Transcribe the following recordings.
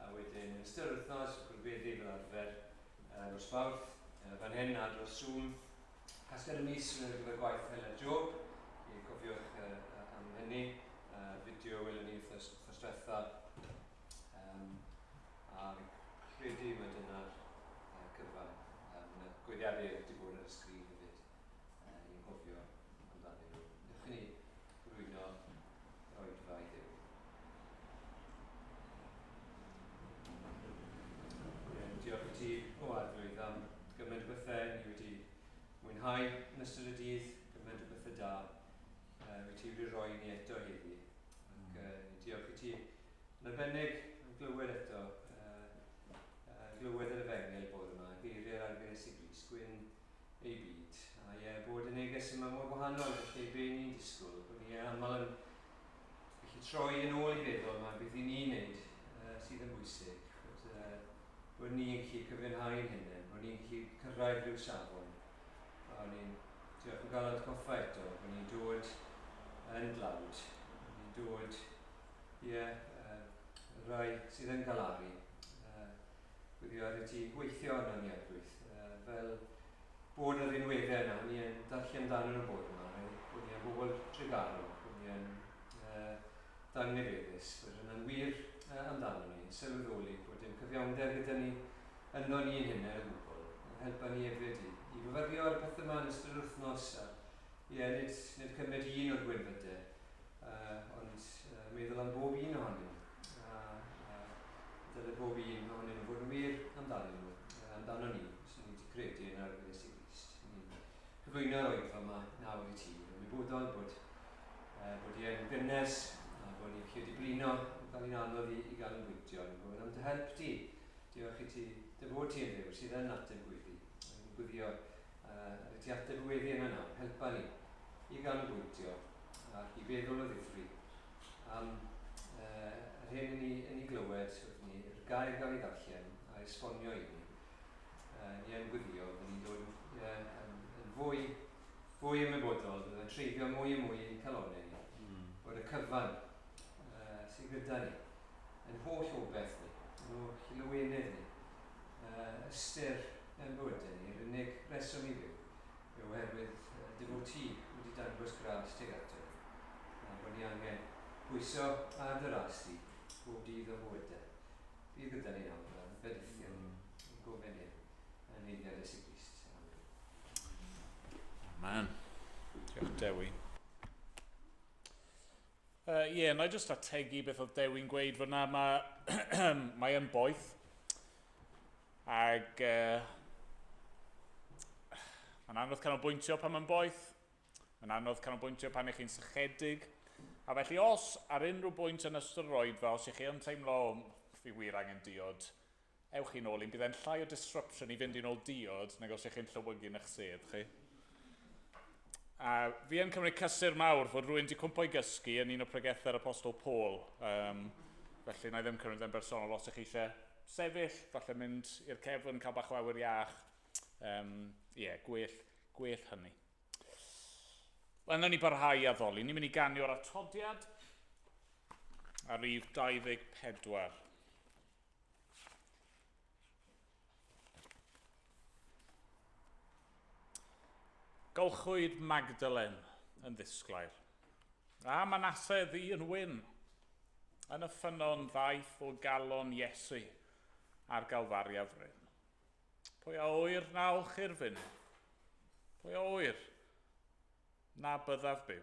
A wedyn yn ystod yr wythnos, y Cwrdd-Weddi fel arfer, y nos Fawrth, y fan hyn ar dros Zoom. Casgliad y mis ar gyfer gwaith Hela Jo, i cofiwch am hynny. Fideo welon ni wythnos diwetha. Yym, a fi'n credu mai dyna'r cyfan. Mae 'na goeddiadau wedi bod ar y sgrin hefyd. uh, ni'n gofio amdanyn nhw. Newch chi ni rwyno roedfa i Dduw. Diolch i ti, o arglwydd, am gymaint o bethau ni wedi mwynhau yn ystod y dydd, gymaint o bethau da uh, wyt ti wedi rhoi ni eto heddi. Ac uh, diolch i ti yn arbennig yn glywed eto, uh, uh, glywed yr efengel bod yma, geiriau'r arglwydd Iesu Gris, gwyn ei byd, a ie, bod y neges yma mor wahanol i'r lle be ni'n disgwyl, bod ni aml yn gallu troi yn ôl i feddwl mae beth i ni wneud uh, sydd yn bwysig, bod, uh, bod ni'n gallu cyfiawnhau'n hynny, bod ni'n gallu cyrraedd rhyw safon. A ni'n diolch o gael at goffa eto, bod ni'n dod yn dlawd, bod ni'n dod, ie, yeah, uh, rai sydd yn galaru, uh, gwylio ar y tŷ, gweithio yn aniadwyth, fel bod y rhinweddau yna, o'n i yn darllen dan yn y bod yma, o'n i yn bobl Tregaron, o'n i yn ddangnefeddus, bod hynna'n wir amdano ni, yn sylweddoli bod dim cyfiawnder gyda ni ynddo ni'n hunain o gwbl, yn helpa ni hefyd i i fyfyrio ar y pethau yma yn ystod yr wythnos, a ie, nid nid cymryd un o'r gwynfydau Yy, ond yy, meddwl am bob un ohonyn nhw, a, a dyle bob un ohonyn nhw fod yn wir amdanyn nhw, yy, amdanon ni, os ydyn ni wedi credu yn yr Iesu Grist. Yn i'n cyflwyno y Wyddfa yma nawr i ti, yn ymwybodol bod, yy, bod hi yn gynnes, a bod ni'n gallu diblino, yn cael hi'n anodd i, i ganolbwyntio, yn gofyn am dy help di. Diolch i ti, dy fod ti yn Dduw sydd yn ateb gweddi, yn guddio Yr y ti ateb y weddi yna nawr, helpa ni i ganolbwyntio ac i feddwl o ddifri am yy yr hyn yn ni yn ni glywed wrth ni, yr gair gawn ni ddarllen a esbonio i ni, yy ni yn gweddio fy ni'n dod yy yn yn fwy fwy ymwybodol, bydd yn treiddio mwy a mwy i'n calone ni, bod y cyfan yy sy gyda ni, yn holl obeth ni, yn holl lawenedd ni, ystyr mewn bywydau ni, yr unig reswm i fyw yw oherwydd dy fod ti wedi dangos gradd tuag ato ni, a bod ni angen pwyso ar dy ras di bob dydd o'n bywydau. Bydd gyda ni nawr a rhyfedd ithio ni, ein gofyn hyn yn nheyrngiad Iesu Grist. Amen. Amen. Diolch Dewi. Ie, uh, yeah, na i jyst ategu beth oedd Dewi'n gweud fod na, mae, mae yn boeth. Ac uh, mae'n anodd canolbwyntio pan mae'n boeth. Mae'n anodd canolbwyntio pan eich chi'n sychedig. A felly os ar unrhyw bwynt yn ystod yr oedfa, os ych chi yn teimlo, fi wir angen diod, Ewch chi'n ôl un, bydd e'n llai o disruption i fynd i'n ôl diod nag os ych chi'n llewygu yn eich sedd chi. A fi yn cymryd cysur mawr fod rwy'n di cwmpo i gysgu yn un o pregethau'r Apostol Paul. Um, felly, na i ddim cymryd yn bersonol os ych chi eisiau sefyll, falle mynd i'r cefn, cael bach o awyr iach. Ie, um, yeah, gwell, gwell hynny. Wel, na ni barhau i addoli. Ni'n mynd i ganio'r atodiad ar rif 24. Golchwyd Magdalen yn ddisglair, a Manasse ddu yn wyn. Yn y ffynnon ddaeth o galon Iesu ar Galfaria fryn. Pwy a oer na olchi'r fyn? Pwy a oer na byddaf byw?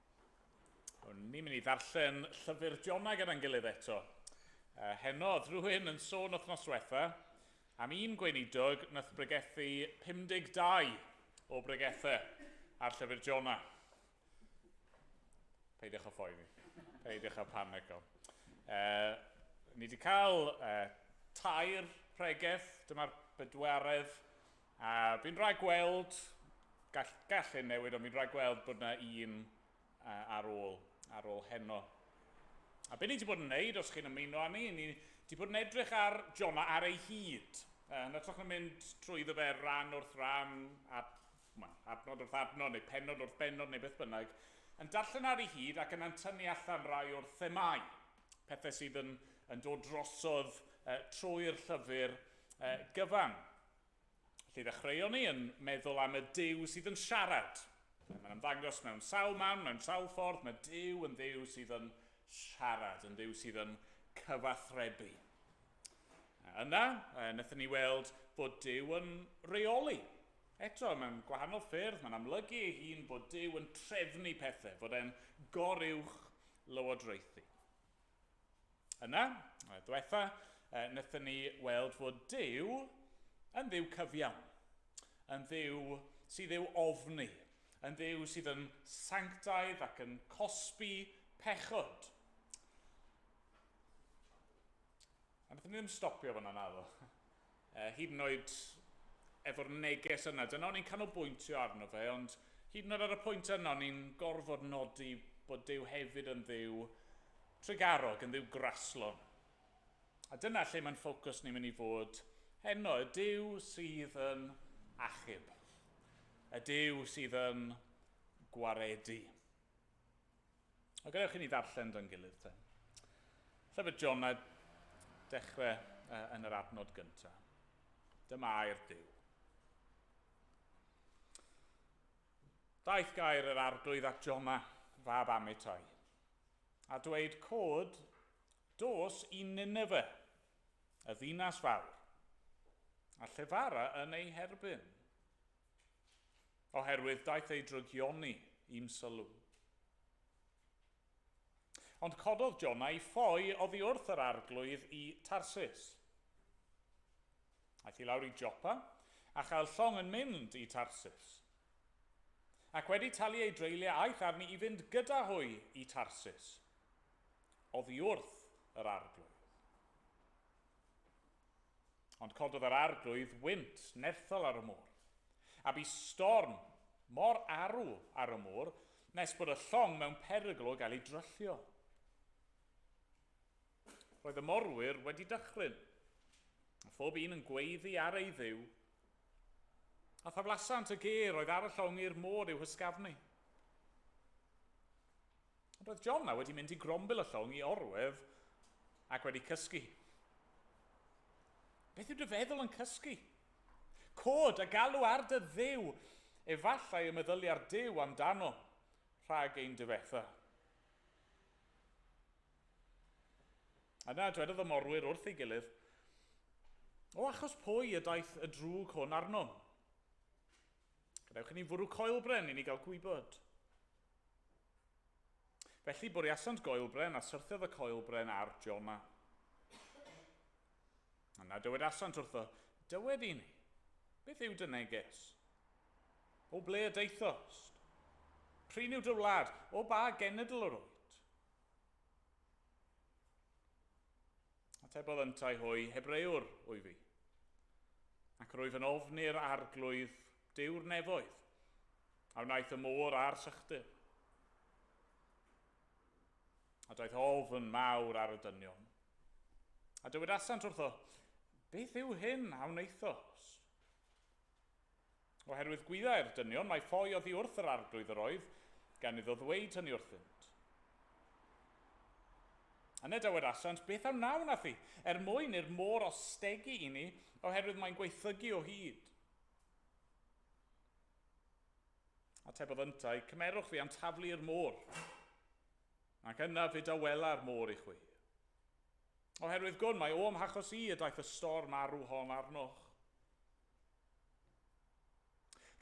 O'n ni'n mynd i ddarllen llyfr Jonau gyda'n gilydd eto. Uh, heno, drwy'n yn sôn wythnos diwetha am un gweinidog nath bregethu 52 o bregethau ar llyfr Jonau. Peidiwch o phoeni. Peidiwch o panico. Uh, ni wedi cael uh, tair pregeth, dyma'r bedwaredd A fi'n rhaid gweld, gall, gall hyn newid, ond fi'n rhaid gweld bod yna un ar ôl, ar ôl heno. A beth ni wedi bod yn wneud, os chi'n ymuno â ni, ni wedi bod yn edrych ar Jona ar ei hyd. Uh, yn ytrach na mynd trwy ddo fe ran wrth ran, ad, ma, adnod wrth adnod neu penod wrth benod neu beth bynnag, yn darllen ar ei hyd ac yna'n tynnu allan rai o'r themau, pethau sydd yn, yn dod drosodd uh, trwy'r llyfr uh, gyfan. Felly ddechreuon ni yn meddwl am y Duw sydd yn siarad. Mae'n ymddangos mewn sawl man, mewn sawl ffordd, mae Duw yn Dduw sydd yn siarad, yn Dduw sydd yn cyfathrebu. A yna, wnaethon ni weld bod Duw yn reoli. Eto, mewn gwahanol ffyrdd, mae'n amlygu ei hun bod Duw yn trefnu pethau, fod e'n goruwch lywodraethu. Yna, y diwetha, e, wnaethon ni weld fod Dyw yn ddiw cyfiawn, yn ddiw sydd i'w ofni, yn ddiw sydd yn sanctaidd ac yn cosbi pechod. A wnaethon ni ddim stopio fan yna, do. uh, hyd yn oed efo'r neges yna. Dyna o'n i'n canolbwyntio arno fe, ond hyd yn oed ar y pwynt yna o'n i'n gorfod nodi bod Dyw hefyd yn ddiw trugarog, yn ddiw graslon. A dyna lle mae'n ffocws ni'n mynd i fod heno, y Dyw sydd yn achub, y Dyw sydd yn gwaredu. A gadewch i ni ddarllen do'n gilydd te. Lle bod John a dechrau uh, yn yr adnod gyntaf. Dyma air Dyw. Daeth gair yr arglwydd at Jona, fab Amitai, a dweud, Cod, dos i Nineveh, y ddinas fawr, a llefara yn ei herbyn, Oherwydd daeth ei drygioni i'm sylw. Ond cododd Jona i ffoi oddi wrth yr arglwydd i Tarsus. Aeth i lawr i Jopa, a chael llong yn mynd i Tarsus. Ac wedi talu ei dreuliau aeth arni i fynd gyda hwy i Tarsus, oddi wrth yr arglwydd. Ond cododd yr arglwydd wynt nerthol ar y môr, a bu storm mor arw ar y môr nes bod y llong mewn perygl o gael ei dryllio. Roedd y morwyr wedi dychryn, a phob un yn gweiddi ar ei dduw, a thaflasant y ger oedd ar y llong i'r môr i'w hysgafnu. Roedd Jonna wedi mynd i grombil y llong i orwedd ac wedi cysgu hi. Beth yw dy feddwl yn cysgu? Cod a galw ar dy Dduw! Efallai y meddylia'r Duw amdano rhag ein difetha. Yna dwedodd y morwyr wrth ei gilydd, O achos pwy y daeth y drwg hwn arnom? Gadewch i ni fwrw coelbren i ni gael gwybod. Felly bwriasant goelbren, a syrthiodd y coelbren ar Jona. Yna dywedasant wrtho, Dywed i ni, beth yw dy neges? O ble y daethost? Prin yw dy wlad? O ba genedl yr wyt? Atebodd yntau hwy, Hebreüwr wyf fi, ac rwyf yn ofn i'r Arglwydd Duw'r nefoedd, a wnaeth y môr a'r sychdir. A daeth ofn mawr ar y dynion. A dywedasant wrtho, Beth yw hyn a wnaethos? Oherwydd gwyddai'r dynion mai ffoi oddi wrth yr Arglwydd yr oedd gan iddo ddweyd hynny wrthynt. Yna dywedasant, Beth a wnawn â thi, er mwyn i'r môr ostegi i ni, oherwydd mae'n gwaethygu o hyd? Atebodd yntau, Cymerwch fi am taflu i'r môr, ac yna fe dawela'r môr i chwi. Oherwydd gwn mae o'm hachos i y daeth y stor marw hon arnoch.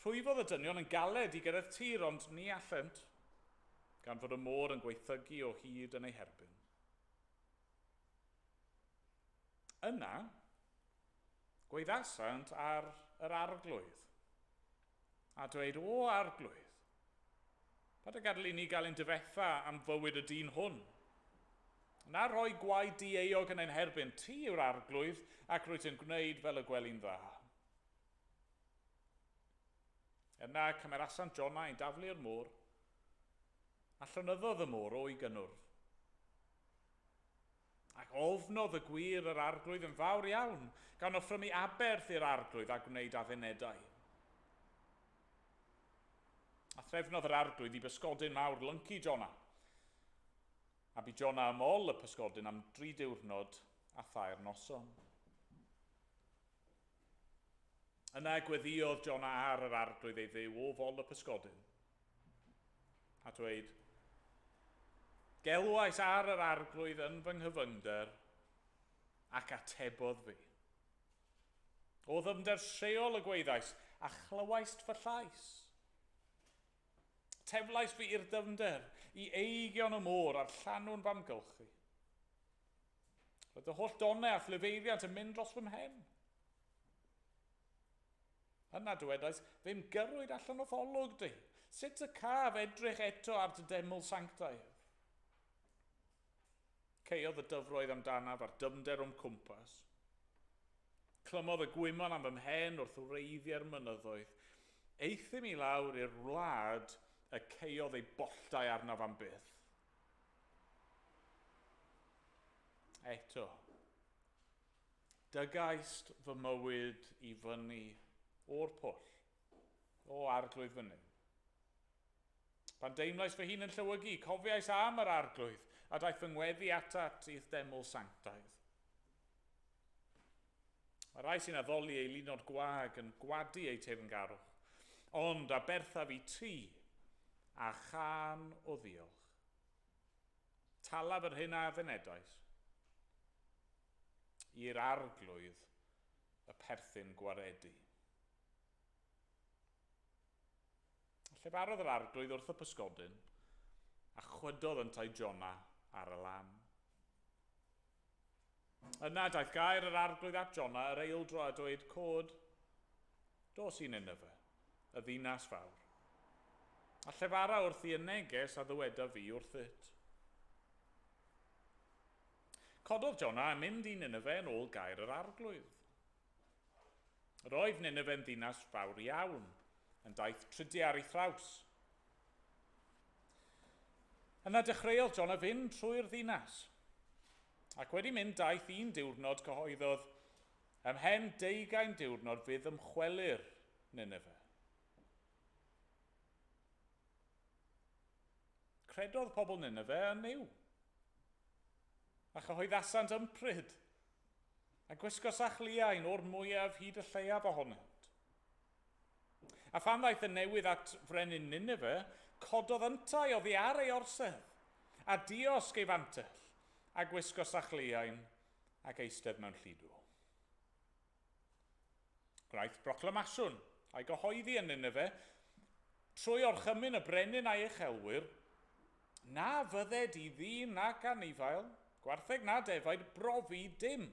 Rhwyfodd y dynion yn galed i gyrraedd tir ond ni allent, gan fod y môr yn gwaethygu o hyd yn eu herbyn. Yna, gwaeddasant ar yr Arglwydd, a dweud, O Arglwydd, Paid a gadael i ni gael ein difetha am fywyd y dyn hwn. Na rhoi gwaed dieuog yn ein herbyn, ti yw'r Arglwydd, ac rwyt yn gwneud fel y gweli'n dda. Yna cymerasant Jonah i daflu'r môr, a llonyddodd y môr o'i gynnwrf. Ac ofnodd y gwŷr yr arglwydd yn fawr iawn, gan offrymu aberth i'r arglwydd a gwneud addunedau. A threfnodd yr arglwydd i bysgodyn mawr lyncu Jona. A bu Jona ym ol y pysgodyn am dri diwrnod a thair noson. Yna gweddïodd Jona ar yr arglwydd ei Dduw o fol y pysgodyn. a dweud, Gelwais ar yr Arglwydd yn fy nghyfyngder, ac atebodd fi. O ddyfnder lleol y gwaeddais, a chlywaist fy llais. Teflais fi i'r dyfnder, i eigion y môr a'r llanw'n famgylchu. Roedd dy holl donau a thlefeiddiant yn mynd dros fy mhen. Ond na dywedais ddim gyrrwyd allan o'th olwg di, sut y caf edrych eto ar dy deml sanctaidd? Caeodd y dyfroedd am danaf a'r dyfnder o'm cwmpas. Clymodd y gwymon am fy mhen wrth wreiddie'r mynyddoedd. Euthum i lawr i'r wlad y caeodd ei bolltau arnaf am byth. Eto. Dygaist fy mywyd i fyny o'r pwll, o Arglwydd fy Nuw. Pan deimlais fy hun yn llewygu, cofiais am yr Arglwydd, a daeth fy ngweddi atat i'th deml sanctaidd. Mae rhai sy'n addoli ei lunod gwag yn gwadu eu teyrngarwch, ond aberthaf i ti, a chân o ddiolch. Talaf yr hyn a fynedais. i'r Arglwydd y perthyn gwaredu. Llefarodd yr Arglwydd wrth y pysgodyn, a chwydodd yntau Jona ar y lan. Yna daeth gair yr Arglwydd at Jona yr eildro a dweud, Cod, dos i Nineveh, y ddinas fawr, a llefara wrth i y neges a ddyweda fi wrthyt. Cododd Jona a mynd i Nineve yn ôl gair yr Arglwydd. Yr oedd Nineve yn ddinas fawr iawn, yn daith trydy ar ei thraws. Yna dechreuodd Jona fynd trwy'r ddinas, ac wedi mynd daith un diwrnod cyhoeddodd, Ymhen deugain diwrnod fydd ymchwelir Nineve. Credodd pobl Nineve yn Nuw. A chyhoeddasant ympryd, a gwisgosach liain o'r mwyaf hyd y lleiaf ohonynt. A phan ddaeth y newydd at frenin Nineve, cododd yntau oddi ar ei orsedd, a diosg ei fantell, a gwisgosach liain, ac eistedd mewn llidw. Gwnaeth broclamaswn, a'i gyhoeddi yn Nineve, trwy orchymyn y brenin a'i uchelwyr, na fydded i ddyn nac anifail, gwartheg na defaid, brofi dim,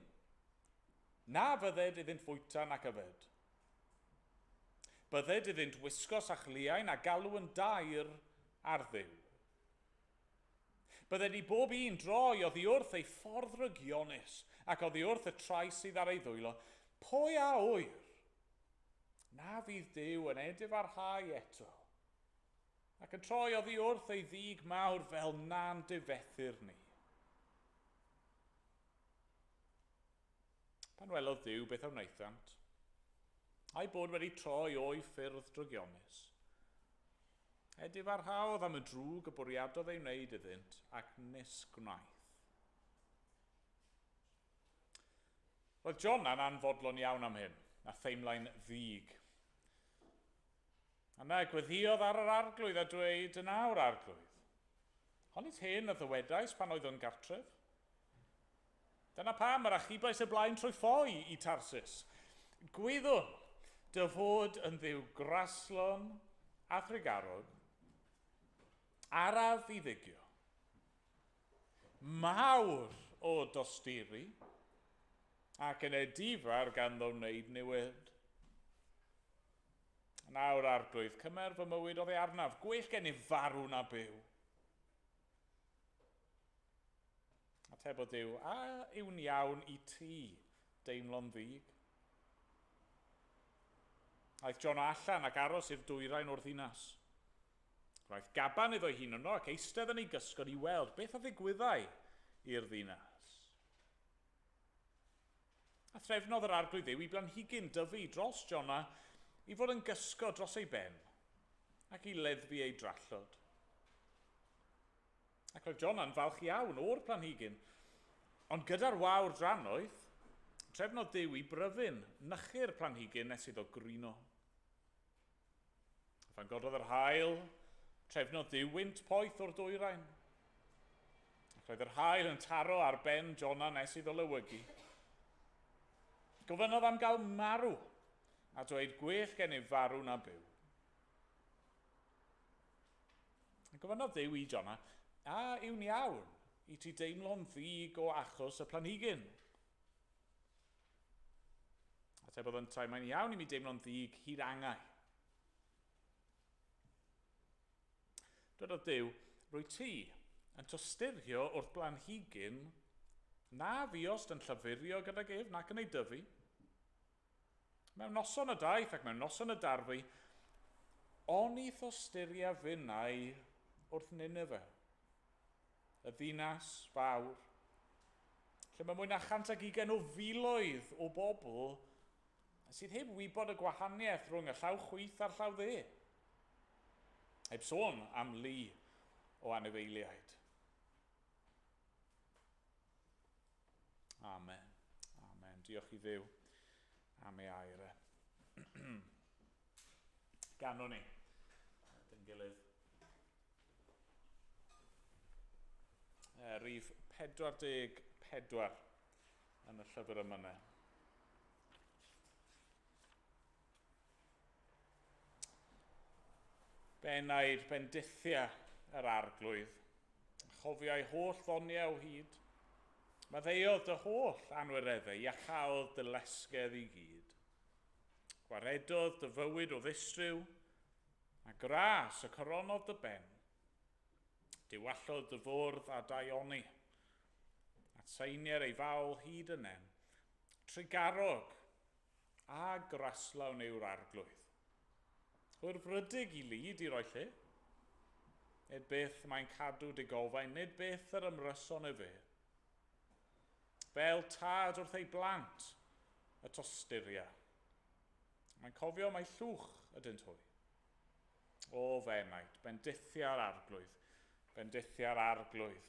na fydded iddynt fwyta nac yfed. Bydded iddynt wisgo sachliau na galw yn daer ar Dduw. Bydde di bob un droi oddi wrth ei ffordd rygionus, ac oddi wrth y trais sydd ar ei ddwylo, Pwy a ŵyr? Na fydd Duw yn edifarhau eto, ac yn troi oddi wrth ei ddig mawr fel na'n difethr ni. Pan welodd Duw beth a wnaethant, a'i bod wedi troi o'i ffyrdd drygionus, edifarhaodd am y drwg y bwriadodd ei wneud iddynt, ac nes gwnaeth. Roedd Jona'n anfodlon iawn am hyn, a theimlai'n ddig. Yna gweddïodd ar yr Arglwydd a dweud, Yn awr, Arglwydd, honnit hyn a ddywedais pan oeddwn gartref? Dyna pam yr achubais y blaen trwy ffoi i Tarsus. Gwyddwn dy fod yn dduw graslon a thrugarog, araf i ddygio, mawr o dosturi, ac yn edifar ganddo wneud niwed. Nawr, Arglwydd, cymer fy mywyd oddi arnaf, gwell gennyf farw na byw. Atebodd Duw, A yw'n iawn i ti deimlo'n ddig? Aeth John o allan ac aros i'r dwyrain o'r ddinas. Gwnaeth gaban iddo'i hun yno ac eistedd yn ei gysgod i weld beth a ddigwyddai i'r ddinas. A threfnodd yr Arglwydd Dduw i blanhigyn dyfu dros Jona i fod yn gysgod dros ei ben ac i leddfu ei drallod. Ac roedd Jona'n falch iawn o'r planhigyn. Ond gyda'r wawr drannoeth, trefnodd Duw i bryfyn nychu'r planhigyn nes iddo grino. A phan gododd yr haul, trefnodd Duw wynt poeth o'r dwyrain. Ac roedd yr haul yn taro ar ben Jona nes iddo lewygu. Gofynnodd am gael marw, a dweud gwell gennyf farw na byw. A gofynnodd Duw i Jona, A yw'n iawn i ti deimlo'n ddig o achos y planhigyn? Atebodd yntau, Mae'n iawn i mi deimlo'n ddig hyd angau. Dwedodd Duw, Rwy ti yn tosturio wrth blanhigyn na fuost yn llafurio gydag ef nac yn ei dyfu. Mewn noson y daeth ac mewn noson y darfu, onith o styria finnau wrth Nineve, y ddinas fawr, lle mae mwy na chant ag ugain o filoedd o bobl sydd heb wybod y gwahaniaeth rhwng y llaw chwith a'r llaw dde. Heb sôn am lu o anifeiliaid. Amen. Amen. Diolch i ddew am ei air e. Ganwn ni. Dyn gilydd. E, rif 44 yn y llyfr yma ne. Fe wnaed bendithia yr Arglwydd, a chofiai holl ddoniau o hyd. Maddeuodd dy holl anwireddau, iacháodd dy lesgedd i gyd. Gwaredodd dy fywyd o ddistryw, a gras y coronodd dy ben. Diwallodd dy fwrdd a daioni, a tseinier ei fawl hyd y nen. Trugarog, A graslawn yw'r Arglwydd. Yw'r frydig i lu di roi lle? Nid byth mae'n cadw dy gofain, nid byth yr ymryson y fe. Fel tad wrth ei blant y tosturia. Mae'n cofio mai llwch ydynt hwy. O, fe wnaed, bendithia'r Arglwydd, bendithia'r Arglwydd.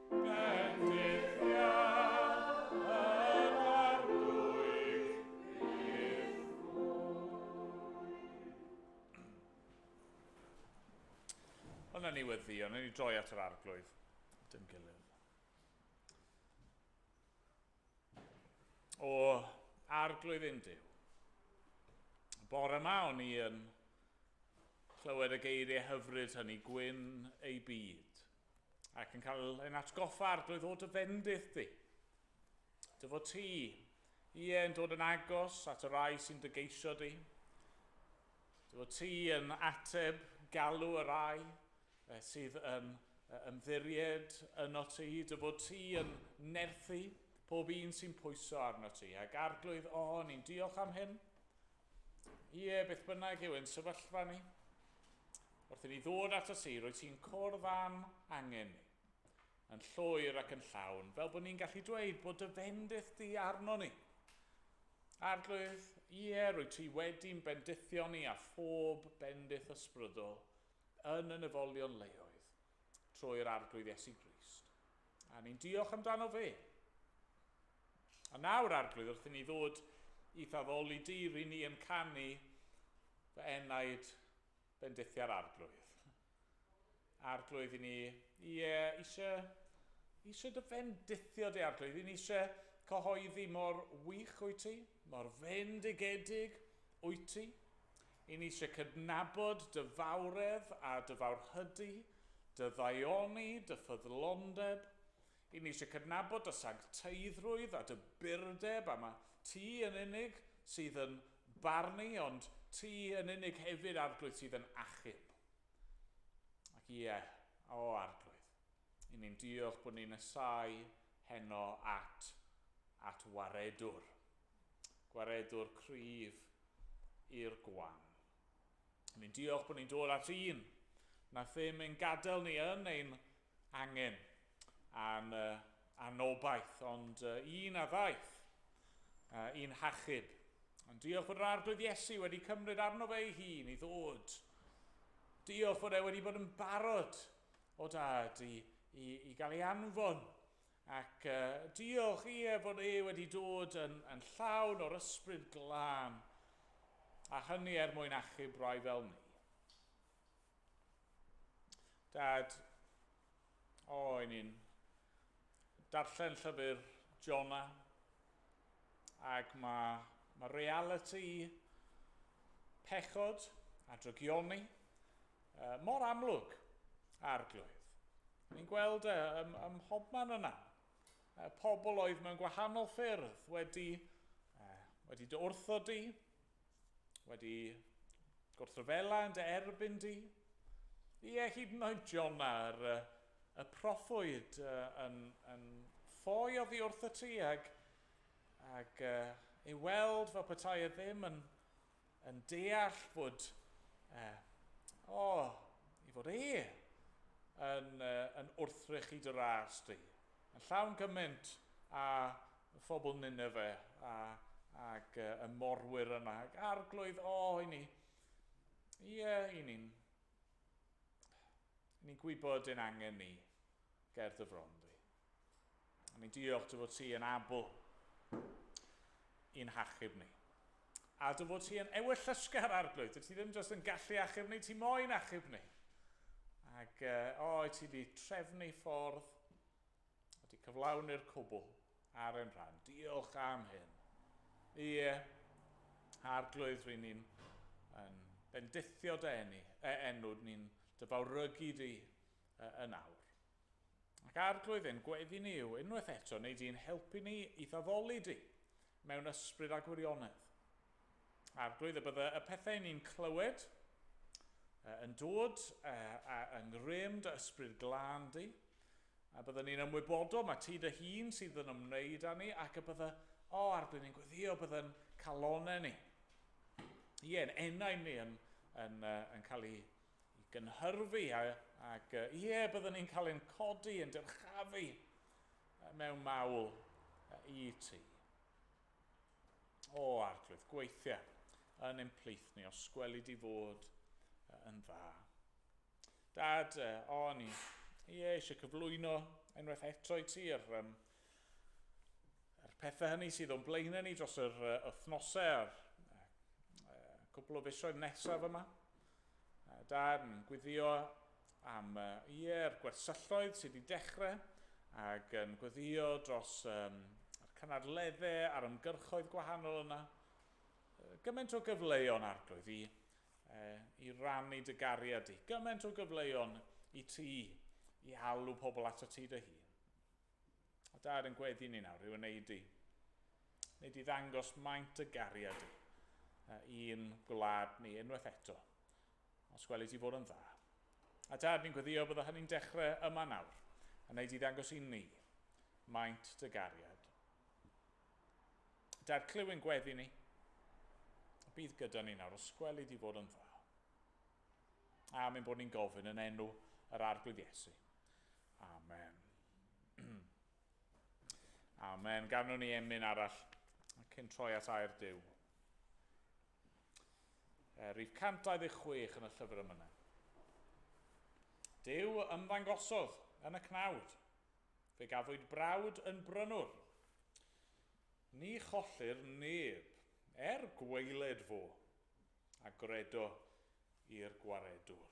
Ond ni wedi, ond ni droi at yr arglwydd. Dim gilydd. O arglwydd un diw. Bore yma o'n i yn clywed y geiriau hyfryd hynny, gwyn ei byd. ac yn cael ein atgoffa ar drwy ddod y fendith di. Dy fod ti, ie, yn dod yn agos at y rai sy'n dy geisio di. Dy fod ti yn ateb galw y rai eh, sydd yn ymddiried yno ti. Dy fod ti yn nerthu pob un sy'n pwyso arno ti. Ac arglwydd, o, ni'n diolch am hyn. Ie, beth bynnag yw ein sefyllfa ni, Wrth i ni ddod at y si, roedd ti'n cwrdd am angen ni, yn llwyr ac yn llawn, fel bod ni'n gallu dweud bod dy fendith di arno ni. Arglwydd, ie, roedd ti wedi'n bendithio ni a phob bendith ysbrydol yn y nefolion leoedd, trwy'r Arglwydd Iesu Grist. A ni'n diolch amdano fe. A nawr, Arglwydd, wrth i ni ddod i thaddoli di, ry ni yn canu fy enaid bendithiau'r Arglwydd. Arglwydd i ni, i e, eisiau, eisiau dy fendithio di, Arglwydd, i ni eisiau cyhoeddi mor wych wyt ti, mor fendigedig wyt ti, 'Y ni isie cydnabod dy fawredd a dy fawrhydi, dy ddaioni, dy ffyddlondeb. 'Y ni isie cydnabod dy sancteiddrwydd a dy burdeb, a mae ti yn unig sydd yn barnu, ond ti yn unig hefyd, Arglwydd, sydd yn achub. Ac ie, o Arglwydd, 'y ni'n diolch bod ni'n nesáu heno at, at waredwr, Gwaredwr cryf i'r Gwan. Ni'n diolch bod ni'n dod at un na ddim ein gadael ni yn ein angen am uh, anobaith, ond uh, un a ddaeth uh, i'n hachub. Ond diolch bod yr arglwydd Iesu wedi cymryd arno fe ei hun i ddod. Diolch bod e wedi bod yn barod o dad i, i, i gael ei anfon Ac diolch, ie, fod e wedi dod yn, yn llawn o'r Ysbryd Glân, a hynny er mwyn achub rai fel ni. Dad, o, i ni'n darllen llyfr Jona, ac mae, mae reality pechod a drygioni uh, mor amlwg, Arglwydd. Ni'n gweld e ym, ym mhobman yna. Uh, pobl oedd mewn gwahanol ffyrdd wedi, uh, wedi dy wrtho di, wedi gwrthryfela yn dy erbyn di. Ie, hyd yn oed Jona, yr, y proffwyd uh, yn, yn ffoi oddi wrtho ti ag, ag uh, ei weld fel petai e ddim yn, yn deall bod, uh, o, oh, i fod e yn, uh, yn wrthrychyd yr ast i, yn llawn cymaint a phobl Nineveh a, ac uh, y morwyr yna, ac arglwydd, o, oh, i ni, i, uh, i ni'n ni'n gwybod yn angen ni ger dy fron di. A ni'n diolch dy fod ti yn abl i'n hachub ni. A dy fod ti yn ewyllysgar arglwydd. Dwi ti ddim jyst yn gallu achub ni, ti moyn achub ni. Ac uh, o, i ti di trefnu ffordd a di cyflawni'r cwbl ar ein rhan. Diolch am hyn. Ie, yeah. arglwydd rydyn ni'n yn bendithio dy enw, e, enw ni'n dyfawrygu di yn awr. Ac Arglwydd ein gweddi ni yw unwaith eto wnei di'n helpu ni i'th addoli di mewn ysbryd a gwirionedd. Arglwydd, y bydde y pethau ni'n clywed yn dod yng ngrym dy ysbryd glân di, a bydde ni'n ymwybodol mae ti dy hun sydd yn ymwneud â ni, ac y bydde, o Arglwydd, ni'n gweddio bydde'n calonau ni, ie, yn enau ni yn, yn, yn cael ei i gynhyrfu, ac ie, byddwn ni'n cael ein codi, yn dyrchafu mewn mawl i ti. O, arglwydd, gweithia yn ein plith ni, os gweli di fod yn dda. Dad, o, ni, ie, eisiau cyflwyno unwaith eto i ti yr, um, yr pethau hynny sydd o'n blaen ni dros yr uh, wythnosau a'r uh, cwbl o fisoedd nesaf yma. Darn, Gweddïo am ie yr gwersylloedd sydd wedi dechre ag yn gweddïo dros yr cynadledde a'r ymgyrchoedd gwahanol yna. Gyment o gyfleon Arglwydd i i rannu dy gariad di. Gyment o gyfleon i ti i alw pobl ato ti dy hun. A Dad yn gweddu ni nawr yw yn neud i, neud i ddangos maint y gariad i, a i'n gwlad ni unwaith eto, os gweli ti fod yn dda. A Dad, ni'n gweddio bydda hynny'n dechre yma nawr, yn neud i ddangos i ni, maint dy gariad. Dad, clywyn gweddi ni, a bydd gyda ni nawr, os gweli di fod yn dda. A mynd bod ni'n gofyn yn enw yr Arglwydd Iesu. Amen. Amen. Gafnwn ni emyn arall cyn troi at air Dyw. E, rif 126 yn y llyfr yma. Dyw ymddangosodd yn y cnawd. Fe gafwyd brawd yn brynwr. Ni chollir neb, er gweiled fo, a gredo i'r gwaredwr.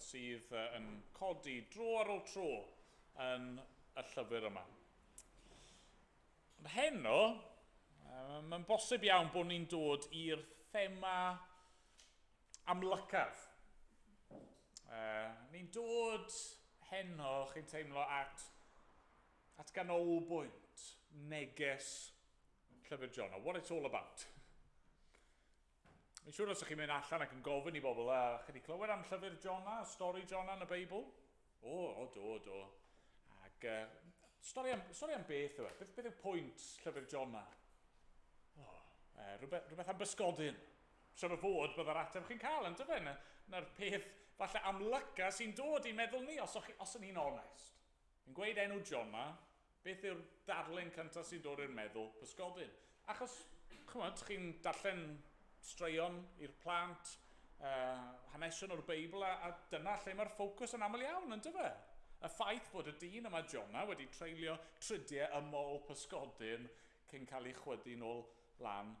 sydd yn codi dro ar ôl tro yn y llyfr yma. Ond heno, mae'n bosib iawn bod ni'n dod i'r thema amlycaf. Ni'n dod heno, chi'n teimlo, at at ganolbwynt neges Llyfr John, what it's all about. Mae'n siŵr os ydych chi'n mynd allan ac yn gofyn i bobl, a chi wedi clywed am llyfr Jona, stori Jona yn y Beibl? O, o do, o do. Ac uh, stori, am, stori am beth yw e? Beth, beth yw pwynt llyfr Jona? O, uh, rhywbeth, rhywbeth am bysgodyn. Siwr o fod byddai'r ateb chi'n cael, yn dyfa, na'r peth falle amlyca sy'n dod i meddwl ni, os, os o'n i'n onest. Yn gweud enw Jona, Beth yw'r darlun cyntaf sy'n dod i'r meddwl? Pysgodyn. Achos, chimod, chi'n darllen straeon i'r plant, hanesion o'r Beibl, a dyna lle mae'r ffocws yn aml iawn, yn dyfe? Y ffaith bod y dyn yma, Jona, wedi treulio tridiau ym mol pysgodyn cyn cael ei chwydu'n ôl lan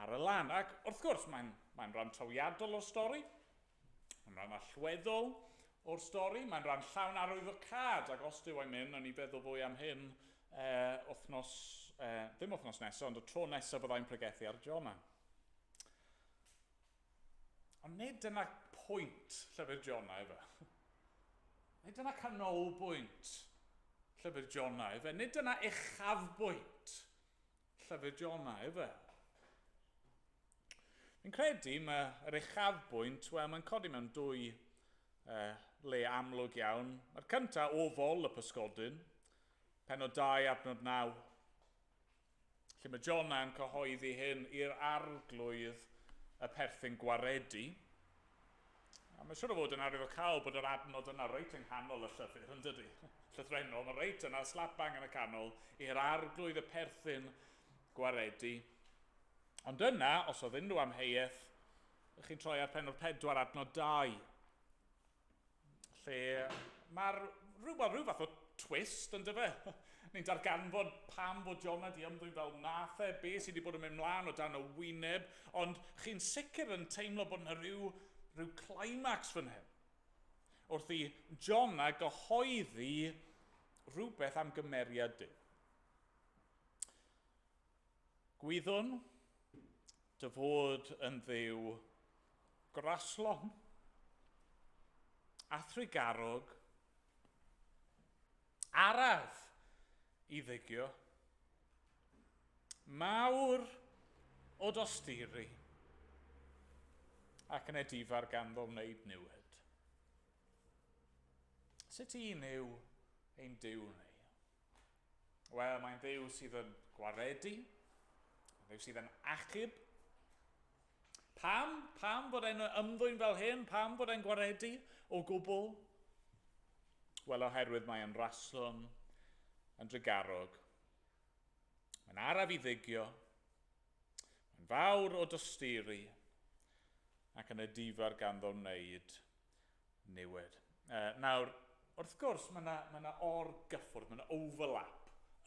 ar y lan. Ac, wrth gwrs, mae'n rhan trawiadol o'r stori. Mae'n rhan allweddol o'r stori, mae'n rhan llawn arwyddocâd, ac os Duw a'i myn, nawn ni feddwl fwy am hyn e, wythnos, e, ddim wythnos nesaf, ond y tro nesaf byddai'n pregethu ar Jona. Ond nid dyna pwynt llyfr Jona efe. Nid dyna canolbwynt llyfr Jona efe. Nid dyna uchafbwynt Llyfr Jonah, yw e? Fi'n credu mae yr uchafbwynt, wel, mae'n codi mewn dwy uh, le amlwg iawn. Mae'r cyntaf o fol y pysgodyn, penod 2 adnod 9, lle mae Jonah yn cyhoeddi hyn i'r arglwydd y perthyn gwaredu. A mae'n siŵr o fod yn arwyddocaol bod yr adnod yna reit yng nghanol y llythyr, yn dydy? Llythrennol, mae reit yna, slap bang yn y canol, i'r arglwydd y perthyn gwaredu. Ond yna, os oedd unrhyw amheuaeth, ych chi'n troi ar pen o'r pedwar adnod dau. Lle mae'r... rhyw, wel, rhyw fath o twist, yn dyfe? Ni'n darganfod pam fod Jona di ymddwyn fel wnaeth e, be sydd wedi bod yn mynd mlaen o dan y wyneb, ond chi'n sicr yn teimlo bod yna rhyw, rhyw climax fan hyn. Wrth i Jona gyhoeddi rhywbeth am gymeriad Duw. Gwyddwn dy fod yn Dduw graslon a thrugarog, araf i ddygio, mawr o dosturi, ac yn edifar ganddo wneud niwed. Sut un yw ein Duw ni? Wel, mae'n ddew sydd yn gwaredu, mae'n ddew sydd yn achub. Pam? Pam fod e'n ymddwyn fel hyn? Pam fod e'n gwaredu o gwbl? Wel, oherwydd mae e'n raswm, yn drugarog. Mae'n araf i ddygio, mae'n fawr o dosturi, ac yn y difar ganddo wneud Niwed. Yy, nawr, wrth gwrs, mae 'na, mae 'na or-gyffwrdd, mae 'na overlap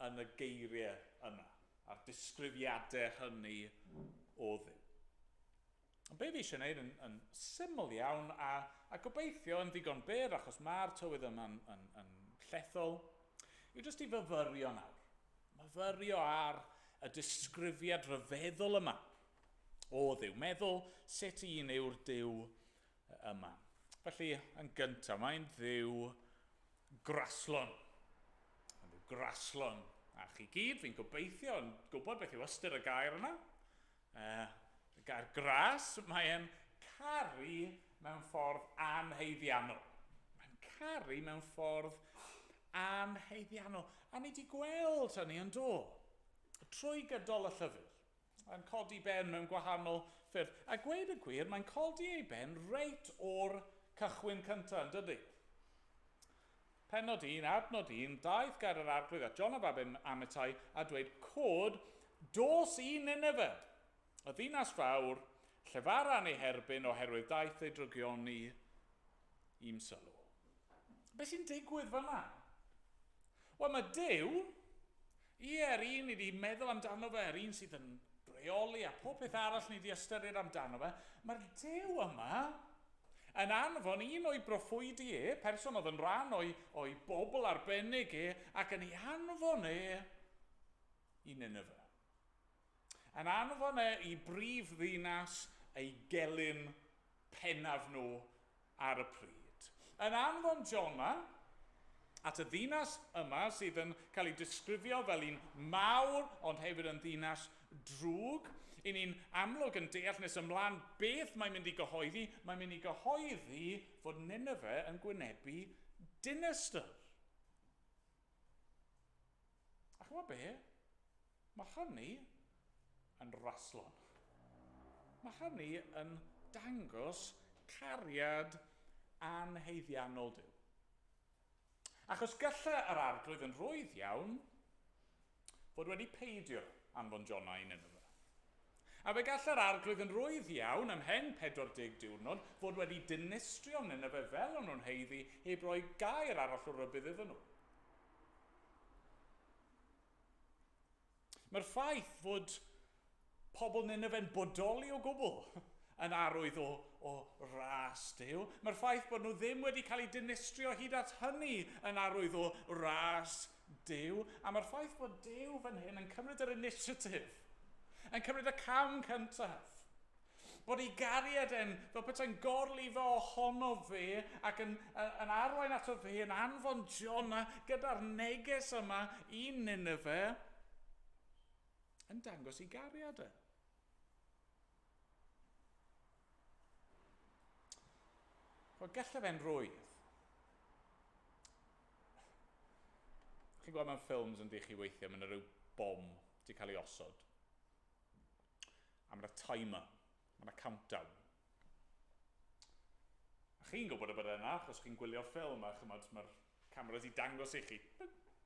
yn y geiriau yna, a'r disgrifiadau hynny o ddim. Ond be fi eisiau wneud yn, yn syml iawn, a, a gobeithio yn ddigon byr, achos mae'r tywydd yma'n yn, yn llethol, yw jyst i fyfyrio nawr. Myfyrio ar y disgrifiad rhyfeddol yma o dduw. Meddwl sut un yw'r duw yma. Felly, yn gyntaf, mae'n dduw graslon. Mae'n dduw graslon. A chi gyd, fi'n gobeithio, yn gwybod beth yw ystyr y gair yna. Uh, y gair gras, mae'n caru mewn ffordd anheiddiannol. Mae'n caru mewn ffordd anheiddiannol. A ni wedi gweld hynny yn do. Trwy gydol y llyfr. Mae'n codi ben mewn gwahanol ffyrdd. A gweud y gwir, mae'n codi ei ben reit o'r cychwyn cyntaf, yn dydy? Pennod 1, adnod 1, daeth gair yr Arglwydd at John y Baben yn Amittai a dweud, Cod, dos i Nineve, y ddinas fawr, llefara yn ei herbyn oherwydd daeth ei drygioni i'm sylw. Be sy'n digwydd fanna? Wel, mae Duw, Ie, yr un ni 'di meddwl amdano fe, yr un sydd yn rheoli a phob peth arall ni 'di ystyried amdano fe, mae'r Duw yma yn anfon un o'i broffwydi e, person oedd yn rhan o'i, o'i bobl arbennig e, ac yn ei anfon e i Nineveh. Yn anfon e i brif ddinas ei gelyn pennaf nhw, ar y pryd. Yn anfon Jona at y ddinas yma sydd yn cael ei disgrifio fel un mawr ond hefyd yn ddinas drwg, i ni'n amlwg yn deall nes ymlaen beth mae'n mynd i gyhoeddi, mae'n mynd i gyhoeddi fod Nineveh yn gwynebu dinestr. A chimod be? Mae hynny yn raslo. Mae hynny yn dangos cariad anhaeddiannol Duw. Achos gallai yr Arglwydd yn rwydd iawn fod wedi peidio anfon Jonah i Nineveh. A fe gall yr Arglwydd yn rwydd iawn, ymhen 40 diwrnod, fod wedi dinistrio Nineveh fel o'n nhw'n haeddu, heb roi gair arall o rybudd iddyn nhw. Mae'r ffaith fod Pobl Nineve yn bodoli o gwbl yn arwydd o, o ras Duw. Mae'r ffaith bod nhw ddim wedi cael eu dinistrio hyd at hynny yn arwydd o ras Duw. A mae'r ffaith bod Duw fan hyn yn cymryd yr initiative, yn cymryd y cam cyntaf, bod ei gariad e'n fel petai'n gorlifo ohono fe ac yn, yn arwain ato fe yn anfon Jona gyda'r neges yma i Nineve, yn dangos ei gariad e. Wel, gallaf e'n rwydd. Chi'n gweld mewn ffilms yn di chi weithio, mae'n rhyw bom di cael ei osod. A mae'r timer Mae yna countdown. A chi'n gwybod y bydde yna, achos chi'n gwylio'r ffilm a chymod, mae'r cameras i dangos i chi.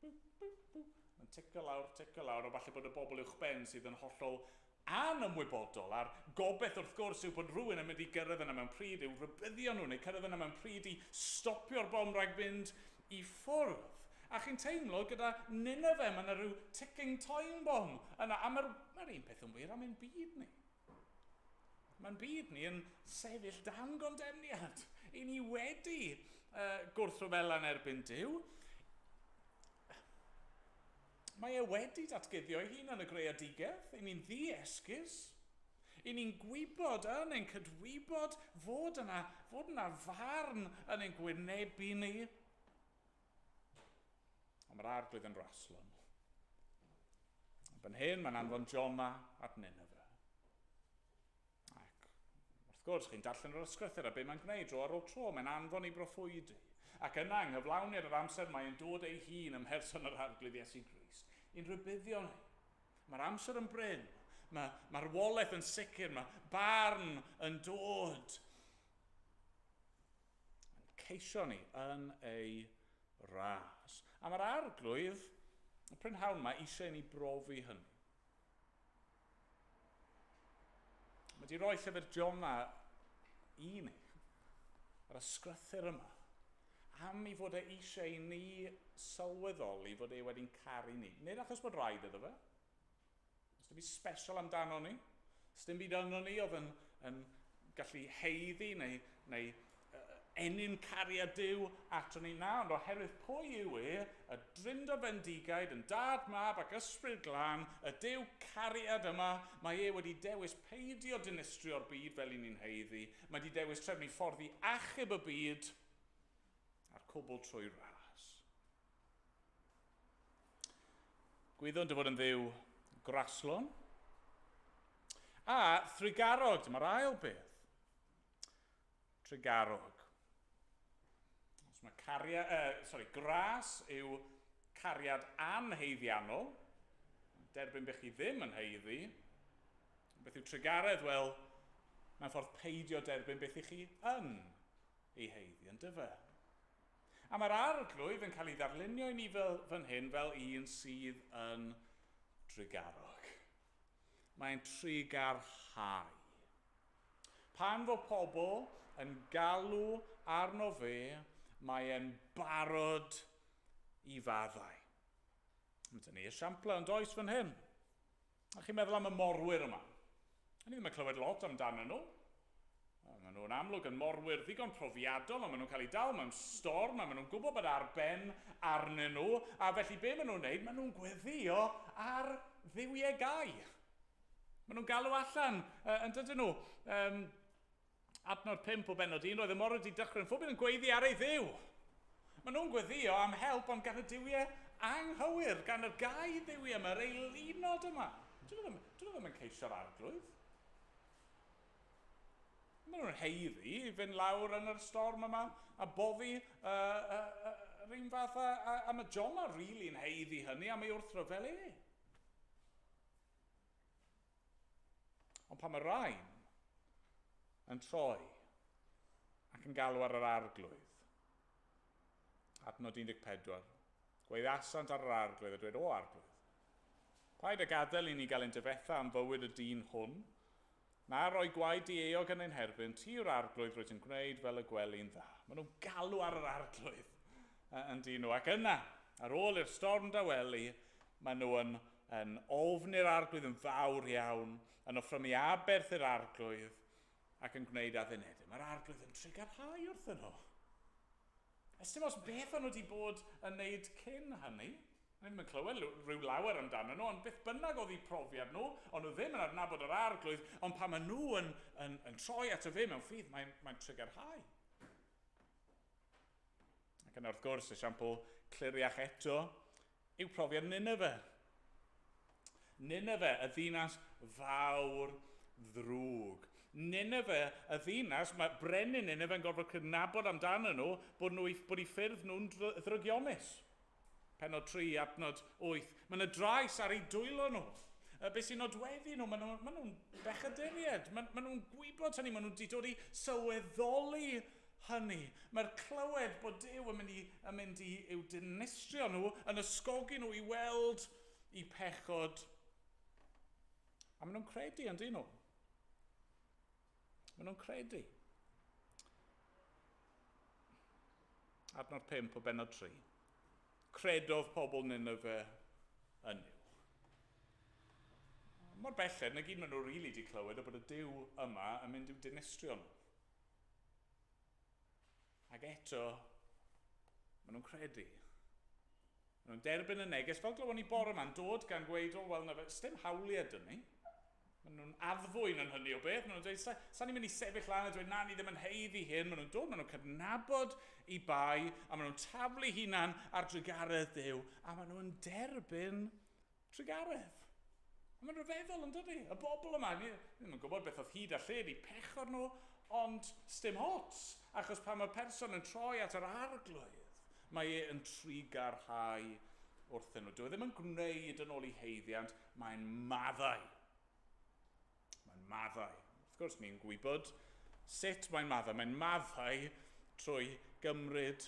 Mae'n ticio lawr, ticio lawr, a falle bod y bobl uwch ben sydd yn hollol anymwybodol, a'r gobeith wrth gwrs yw bod rhywun yn mynd i gyrraedd yna mewn pryd i'w rhybuddio nhw, neu cyrraedd yna mewn pryd i stopio'r bom rhag mynd i ffwrdd. A chi'n teimlo gyda Nineveh, mae yna rhyw ticking time bomb yna, a mae'r un peth yn wir am ein byd ni. Mae'n byd ni yn sefyll dan gondemniad. I ni wedi uh, gwrthryfela'n erbyn Dyw. Mae e wedi datguddio ei hun yn y greadigaeth. I ni'n ddi-esgus. I ni'n gwybod yn ein cydwybod fod yna, fod yna farn yn ein gwynebu ni. Ond mae'r arglwydd yn raslon. Yn byn hyn, mae'n anfon Jona at Nineveh. Ac wrth gwrs, chi'n darllen yr ysgrythur a be mae'n gwneud dro ar ôl tro, mae'n anfon i broffwydi. Ac yna, yng nghyflawniad yr amser, mae'n dod ei hun ym mherson yr arglwydd Iesu Grist i'n rhybuddio ni. Mae'r amser yn bryn, mae'r ma marwolaeth yn sicr, mae barn yn dod. Yn ceisio ni yn ei ras. A mae'r Arglwydd, y prynhawn mae eisiau i ni brofi hynny. Mae wedi rhoi llyfr Jona i ni, yr ysgrythyr yma, am i fod e eisiau i ni sylweddoli fod e wedi'n caru ni. Nid achos bod rhaid iddo fe, Does dim byd special amdano ni. Does dim byd yno ni oedd yn, yn gallu heiddi neu, neu uh, enyn cariad Dyw ato ni na, ond oherwydd pwy yw e, y drindod fendigaid yn dad, mab ac ysbryd glân, y Dyw cariad yma, mae e wedi dewis peidio dinistrio'r byd fel i ni'n heiddi, mae wedi dewis trefnu ffordd i achub y byd a'r cwbl trwy ras. Gwyddwn dy fod yn dduw graslon a thrugarog, dyma'r ail beth. Trugarog. Os mae cariad, uh, sorry, gras yw cariad anheiddiannol, derbyn bych chi ddim yn heiddi, beth yw trugaredd? Wel, mae'n ffordd peidio derbyn beth i chi yn ei heiddi, yn dyfa. A mae'r Arglwydd yn cael ei ddarlunio i ni fel, fan hyn, fel un sydd yn drugarog. Mae'n trugarhau. Pan fo pobl yn galw arno fe, mae e'n barod i faddau. Mae gen i esiamplau, yn does, fan hyn? A chi'n meddwl am y morwyr yma? A ni ddim yn clywed lot amdanyn nhw. A maen nhw'n amlwg yn morwyr ddigon profiadol, a maen nhw'n cael eu dal mewn storm, a maen nhw'n gwybod bod ar ben arnyn nhw, a felly be maen nhw'n wneud? Maen nhw'n gweddïo ar dduwiau gau. Maen nhw'n galw allan, uh, yn dydyn nhw, um, Adnod 5 o bennod 1, Roedd y morwr wedi dychryn phob un yn gweiddi ar ei dduw. Maen nhw'n gweddïo am help ond gan y duwiau anghywir, gan yr gau dduwiau yma, yr eilunod yma. Dyn nhw ddim, dyn nhw ddim yn ceisio'r arglwydd. Maen nhw'n heiddi i fynd lawr yn yr storm yma a boddi uh, uh, uh, yr un fath a, a, a mae Jonah rili'n heiddi hynny a mae wrth rhyfel e. Ond pan mae rhain yn troi ac yn galw ar yr arglwydd, adnod 14, gweiddiasant ar yr arglwydd a dweud, O arglwydd, paid a gadael i ni gael ein dyfetha am fywyd y dyn hwn, Mae rhoi gwaed di-eog yn ein herbyn ti yw'r Arglwydd rwyt yn gwneud fel y gweli'n dda. Maen nhw'n galw ar yr Arglwydd yn dyn nhw, ac yna, ar ôl i'r storm dawelu, maen nhw yn yn ofni'r Arglwydd yn fawr iawn, yn offrymu aberth i'r Arglwydd, ac yn gwneud addunedau. Mae'r Arglwydd yn trugarhau wrthyn nhw. Ystum os beth o'n nhw wedi bod yn wneud cyn hynny. O'n i ddim yn clywed rhyw lawer amdanyn nhw, ond beth bynnag oedd eu profiad nhw, o'n nhw ddim yn adnabod yr Arglwydd, ond pan maen nhw yn, yn, yn troi ato fe mewn ffydd, mae'n, mae'n trigyrhau. Ac yna wrth gwrs, esiampl cliriach eto, yw profiad Nineveh. Nineveh, y ddinas fawr ddrwg. Nineveh, y ddinas, mae brenin Nineveh yn gorfod cydnabod amdanyn nhw bod, nhw, bod i ffyrdd nhw'n ddrygionus. Pennod 3, adnod 8. Mae yna drais ar eu dwylo nhw. Uh, be sy'n nodweddu nhw? Maen nhw, ma nhw'n bechaduriaid. Maen, ma nhw'n gwybod hynny. Maen nhw wedi dod i sylweddoli hynny. Mae'r clywed bod Dyw yn mynd, i, yn mynd i, i'w dinistrio nhw, yn ysgogi nhw i weld i pechod. A maen nhw'n credu, yn dyn nhw. Maen nhw'n credu. Adnod 5 o benod 3. Credodd pobl Nineveh yn Nuw. Mor belled, na gyd maen nhw rili di clywed o bod y Duw yma yn mynd i'w dinistrio nhw. Ac eto, maen nhw'n credu. Maen nhw'n derbyn y neges, fel glywon ni bore yma, yn dod gan ddweud, o, wel, na fe, sdim hawliau dyn ni. Maen nhw'n addfwyn yn hynny o beth. Maen nhw'n dweud, sa, sa ni'n mynd i sefyll lan a dweud, na, ni ddim yn heiddi hyn. Maen nhw'n dod, maen nhw'n cydnabod i bai, a maen nhw'n taflu hunan ar drugaredd Duw, a maen nhw'n derbyn Trugaredd! A mae'n rhyfeddol, yn dydi? Y bobl yma, ni ddim yn gwybod beth oedd hyd a lled eu pechod nhw, ond sdim ots, achos pan mae'r person yn troi at yr Arglwydd, mae e yn trugarhau wrthyn nhw. Dyw e ddim yn gwneud yn ôl ei haeddiant, mae'n maddau. Mae'n maddau. Wrth gwrs, ni'n gwybod sut mae'n maddau. Mae'n maddau trwy gymryd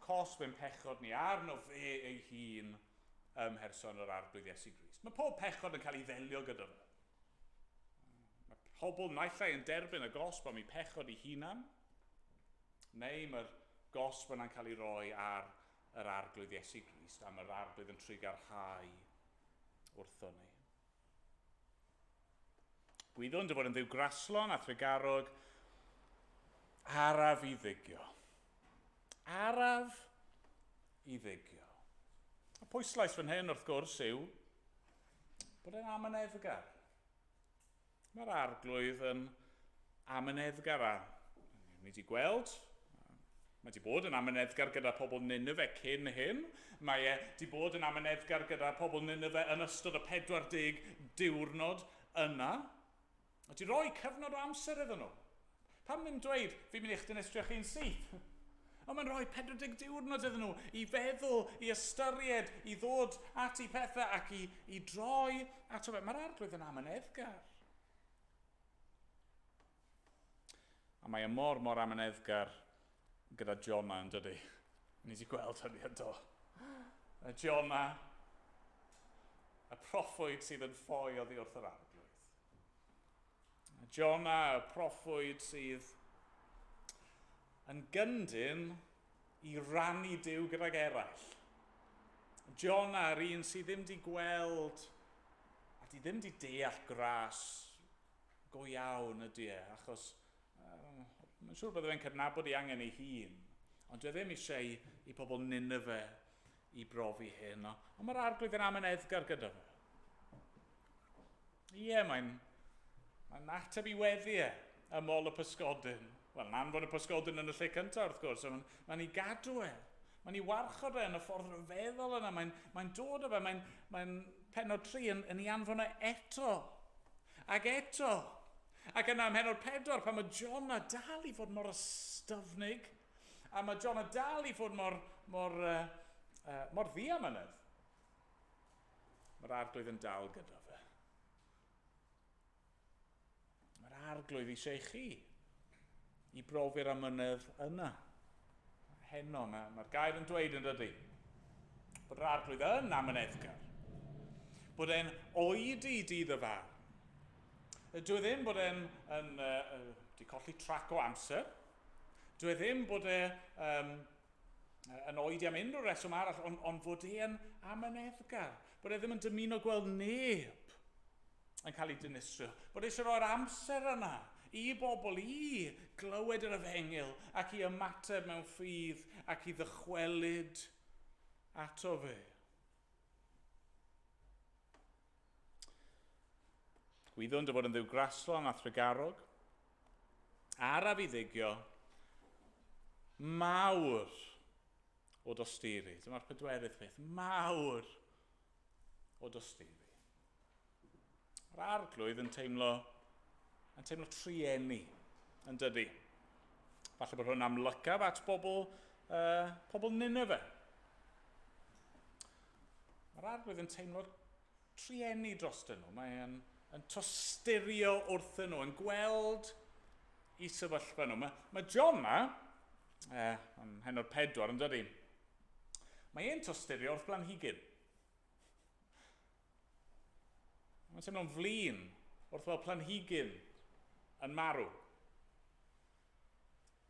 cosb ein pechod ni arno fe ei hun ym mherson yr Arglwydd Iesu Grist. Mae pob pechod yn cael ei ddelio gyda fe. Mae pobl naill ai yn derbyn y gosb am eu pechod eu hunan, neu mae'r gosb yna'n cael ei roi ar yr Arglwydd Iesu Grist, a mae'r Arglwydd yn trigarhau wrtho ni. Gwyddwn dy fod yn dduw graslon a thregarog, araf i ddygio. Araf i ddygio. Y pwyslais fan hyn, wrth gwrs, yw bod e'n amyneddgar. Mae'r arglwydd yn Amyneddgar a ni wedi gweld, mae wedi bod yn amyneddgar gyda pobl Nineve cyn hyn, mae e wedi bod yn amyneddgar gyda pobl Nineve yn ystod y 40 diwrnod yna, wedi rhoi cyfnod o amser iddyn nhw. Pam ddim dweud, fi'n mynd i'ch dinistrio chi'n syth? Ond mae'n rhoi 40 diwrnod iddyn nhw i feddwl, i ystyried, i ddod at i pethau ac i, i droi ato fe. Mae'r arglwydd yn amyneddgar. A mae e mor, mor amyneddgar gyda Jona, yn dydy? Ni di gweld hynny yn do. Y Jona, y proffwyd sydd yn ffoi oddi wrth yr arglwydd. Y Jona, y proffwyd sydd Yn gyndyn, i rannu Duw gydag eraill. Jona, yr un sydd ddim di gweld a di ddim di deall gras go iawn ydy e, achos um, mae'n siŵr bod fe'n cydnabod ei angen ei hun. Ond dwi e ddim eisiau i, i pobl Nineveh i brofi heno, ond mae'r Arglwydd yn amyneddgar gyda fo. Ie, mae'n mae'n ateb i weddi e, ymol y pysgodyn. Wel, yn anfon y pysgodyn yn y lle cyntaf, wrth gwrs, mae'n mae ni gadw e. Mae'n ni warchod e yn y ffordd rhyfeddol yna. Mae'n mae dod o fe, mae'n mae penod tri yn, yn ei anfon e eto. Ac eto. Ac yna ymhenod pedwar, pan mae John a dal i fod mor ystyfnig, A mae John yn dal i fod mor, mor, uh, uh, mor ddiamynedd. Mae'r arglwydd yn dal gyda fe. Mae'r arglwydd eisiau chi i brofi'r amynedd yna. Heno, mae'r mae gair yn dweud yn dydy. Bod yr arglwydd yn amyneddgar. Bod e'n oed i dydd y fawr. Dwi e ddim bod e'n yn, uh, uh, di colli trac o amser. Dw i ddim bod e um, yn oedi am unrhyw reswm arall, ond on fod e yn amyneddgar, bod e ddim yn dymuno gweld neb yn cael ei dinistrio, bod e eisiau rhoi'r amser yna i bobl i glywed yr efengyl ac i ymateb mewn ffydd ac i ddychwelyd ato fe. Gwyddwn dy fod yn ddiw graslon a thregarog. Araf i ddigio mawr o dosturi. Dyma'r pedwerydd peth. Mawr o dosturi. Mae'r arglwydd yn teimlo, yn teimlo trueni, yn dydy. Falle bod hwn amlycaf at bobl, uh, pobl Nineveh. Mae'r arglwydd yn teimlo trueni drostyn nhw. Mae e'n yn tosturio wrthyn nhw, yn gweld i sefyllfa nhw. Mae, mae John yma, eh, yn hen o'r pedwar, yn dydy. Mae e'n tosturio wrth blanhigyn. Mae'n teimlo'n flin wrth fel planhigyn yn marw.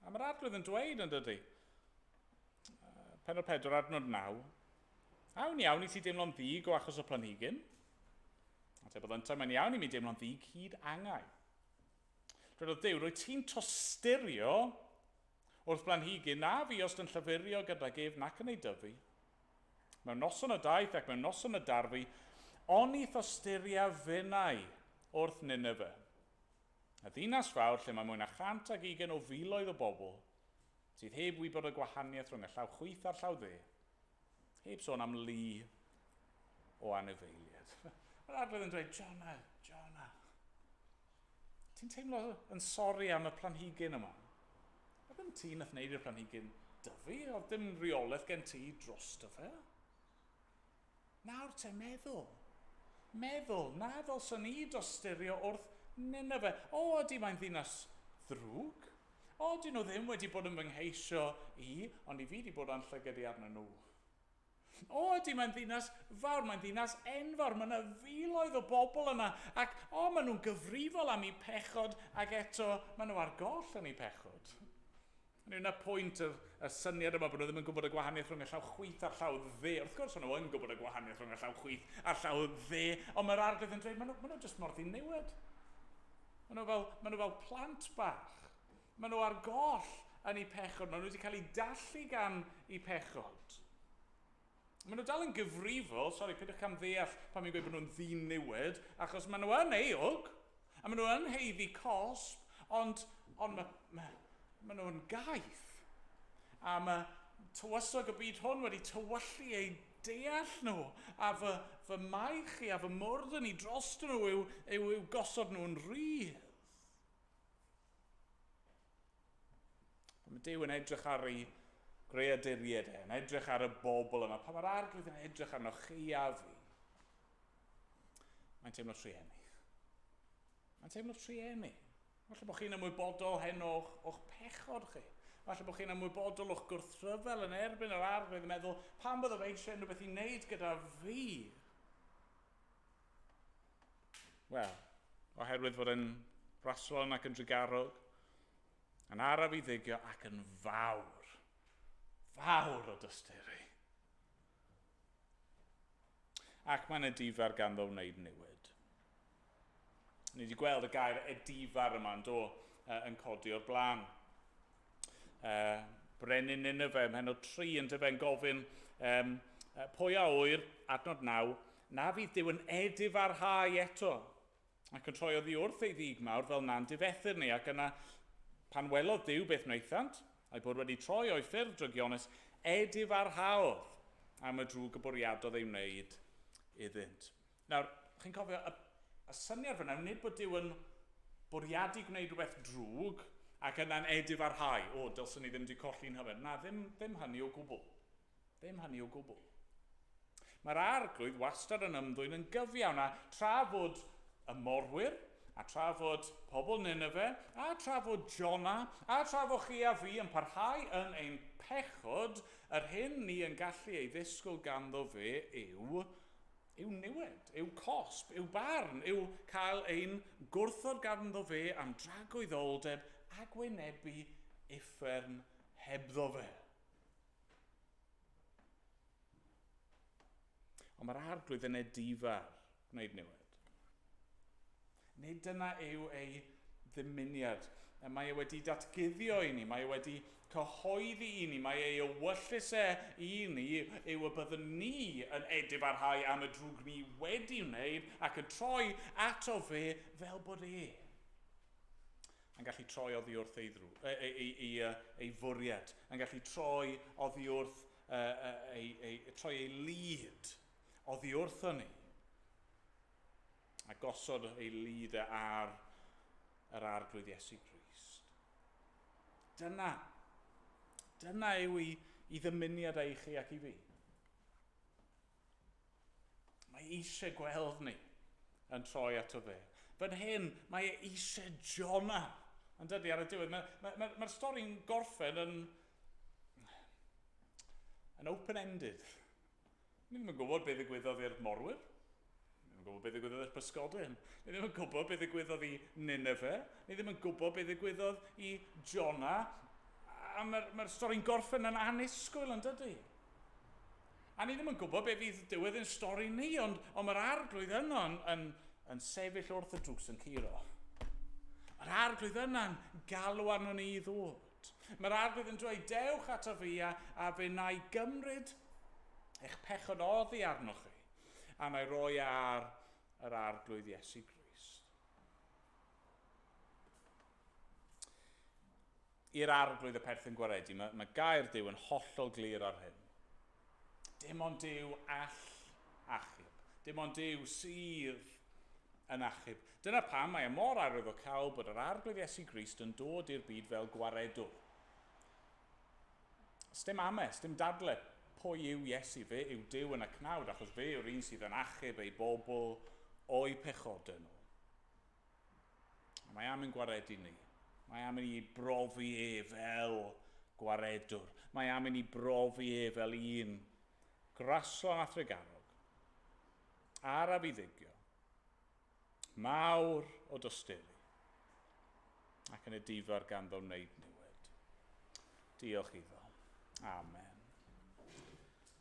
A mae'r Arglwydd yn dweud yn dydy. Penod 4, adnod 9. Awn iawn i ti deimlo'n ddig o achos y planhigyn. A te bod yntau, mae'n iawn i mi deimlo'n ddig hyd angau. Dwedodd Dew, rwy ti'n tosturio wrth blanhigyn na fiost yn llyfurio gydag ef nac yn ei dyfu. Mewn noson y daeth ac mewn noson y darfu, oni thosturia finnau wrth Nineveh. Y ddinas fawr lle mae mwy na 120 o filoedd o bobl sydd heb wybod y gwahaniaeth rhwng y llaw chwith a'r llaw dde. Heb sôn am lu o anifeiliaid. Mae'r arglwydd yn dweud, Jonah, Jonah, ti'n teimlo yn sori am y planhigyn yma? A ddim ti nath wneud i'r planhigyn dyfu, oedd dim reolaeth gen ti drosto fe. Nawr te, meddwl. Meddwl, na ddylswn i dosturio wrth Ninive. O, ydy, mae'n ddinas ddrwg. O, dyn nhw ddim wedi bod yn fy ngheisio i, ond i fi 'di bod â'n llygad i arnyn nhw. O, ydy, mae'n ddinas fawr, mae'n ddinas enfawr, mae yna filoedd o bobl yna, ac, o, maen nhw'n gyfrifol am eu pechod, ac eto, maen nhw ar goll yn eu pechod. Hynny yw, 'na pwynt yr yr syniad yma bod nhw ddim yn gwybod y gwahaniaeth rhwng y llaw chwith a'r llaw dde. Wrth gwrs, o'n nhw yn gwybod y gwahaniaeth rhwng y llaw chwith a'r llaw dde, ond mae'r arglwydd yn dweud, 'ma nhw, ma' nhw jyst mor ddiniwed. Maen nhw fel, maen nhw fel plant bach. Maen nhw ar goll yn eu pechod. Maen nhw wedi cael eu dallu gan eu pechod. Maen nhw dal yn gyfrifol, sori, peidiwch cam ddeall pan fi'n gweud bod nhw'n ddiniwed, achos maen nhw yn euog, a maen nhw yn heiddi cosb, ond, ond mae, mae, maen nhw'n gaeth. A mae tywysog y byd hwn wedi tywyllu eu deall nhw, a fy, fy maech i a fy mwrdd yn i dros nhw yw, yw, yw gosod nhw'n rhydd. Mae Dyw yn edrych ar ei greaduried e, yn edrych ar y bobl yma. Pa mae'r arglwydd yn edrych arno chi a fi? Mae'n teimlo trueni. Mae'n teimlo trueni. Falle bod chi'n ymwybodol hen o'ch, o'ch pechod chi. Falle bod chi'n ymwybodol o'ch gwrthryfel yn erbyn yr arglwydd yn meddwl, pan byddaf eisiau unrhyw beth i wneud gyda fi? Wel, oherwydd fod yn fraslon ac yn drugarog, yn araf i ddigio ac yn fawr, fawr o dysturu. Ac mae'n edifar ganddo wneud newid. Ni wedi gweld y gair edifar yma yn do, yn codi o'r blaen. uh, Brenin Nineveh ym mhenod 3, yn dyfe'n gofyn, um, pwy a oer, adnod 9, na fydd Dyw yn edifarhau eto, ac yn troi oddi wrth ei ddig mawr fel na'n difethyr ni, ac yna pan welodd Dyw beth wnaethant, a'i bod wedi troi o'i ffurf drygionus, edifarhaodd am y drwg y bwriadodd ei wneud iddynt. Nawr, chi'n cofio, y y syniad fan'na yw nid bod Duw yn bwriadu gwneud rhywbeth drwg ac yna'n edifarhau, O, dylswn i ddim 'di colli'n nhyfed. Na, ddim, ddim hynny o gwbl. Ddim hynny o gwbl. Mae'r Arglwydd wastad yn ymddwyn yn gyfiawn, a tra fod y morwyr, a tra fod pobl Nineve, a tra fod Jona, a tra fo chi a fi yn parhau yn ein pechod, yr hyn ni yn gallu ei ddisgwyl ganddo fe yw Yw niwed, yw cosb, yw barn, yw cael ein gwrthod ganddo fe am dragoeddoldeb a gwynebu uffern hebddo fe. Ond mae'r Arglwydd yn edifar gwneud niwed. Nid dyna yw ei ddymuniad. Mae e wedi datguddio i ni, mae e wedi cyhoeddi i ni, mae ei ewyllys e i ni yw y byddwn ni yn edifarhau am y drwg ni wedi wneud ac yn troi ato fe fel bod e yn gallu troi oddi wrth ei, ddrw, ei, ei, ei, ei fwriad, yn gallu troi oddi wrth ei, ei, troi ei lid oddi wrthon ni. a gosod ei lid e ar yr Arglwydd Iesu Grist. Dyna, dyna yw i, i ddymuniad ei chi ac i fi. Mae eisiau gweld ni yn troi ato fe. Fan hyn, mae e eisiau Jona yn dydy ar y diwedd. Mae'r mae, mae, mae stori'n gorffen yn, yn open-ended. Ni ddim yn gwybod beth ddigwyddodd i'r morwyr. Ni ddim yn gwybod beth ddigwyddodd i'r pysgodyn. Ni ddim yn gwybod beth ddigwyddodd i Nineveh. Ni ddim yn gwybod beth ddigwyddodd i Jonah. A mae'r mae stori'n gorffen yn anusgwyl yn dydy. A ni ddim yn gwybod beth fydd diwedd yn stori ni, ond, ond mae'r arglwydd yno yn, yn, yn sefyll wrth y drws yn curo. Yr arglwydd yna'n galw arno ni i ddod. Mae'r arglwydd yn dweud, Dewch ato fi, a, a fe wna i gymryd eich pechod oddi arnoch chi, a wna i roi e ar yr arglwydd Iesu Grist. I'r arglwydd y perthyn gwaredu, mae, mae gair Dyw yn hollol glir ar hyn. Dim ond Duw all achub. Dim ond Duw sydd yn achub. Dyna pam mae e mor arwyddocaol bod yr Arglwydd Iesu Grist yn dod i'r byd fel gwaredwr. Sdim ame, sdim dadle pwy yw Iesu, fe yw Duw yn y cnawd achos fe yw'r un sydd yn achub ei bobl o'u pechodau nhw. Ond mae am ein gwaredu ni. Mae am i ni brofi e fel gwaredwr. Mae am i ni brofi e fel un graslon a thregarog, araf i ddygio, mawr o dosturi, ac yn edifar ganddo wneud niwed. Diolch iddo. Amen.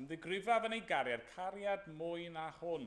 Ymddigrifaf yn ei gariad, cariad mwy na hwn.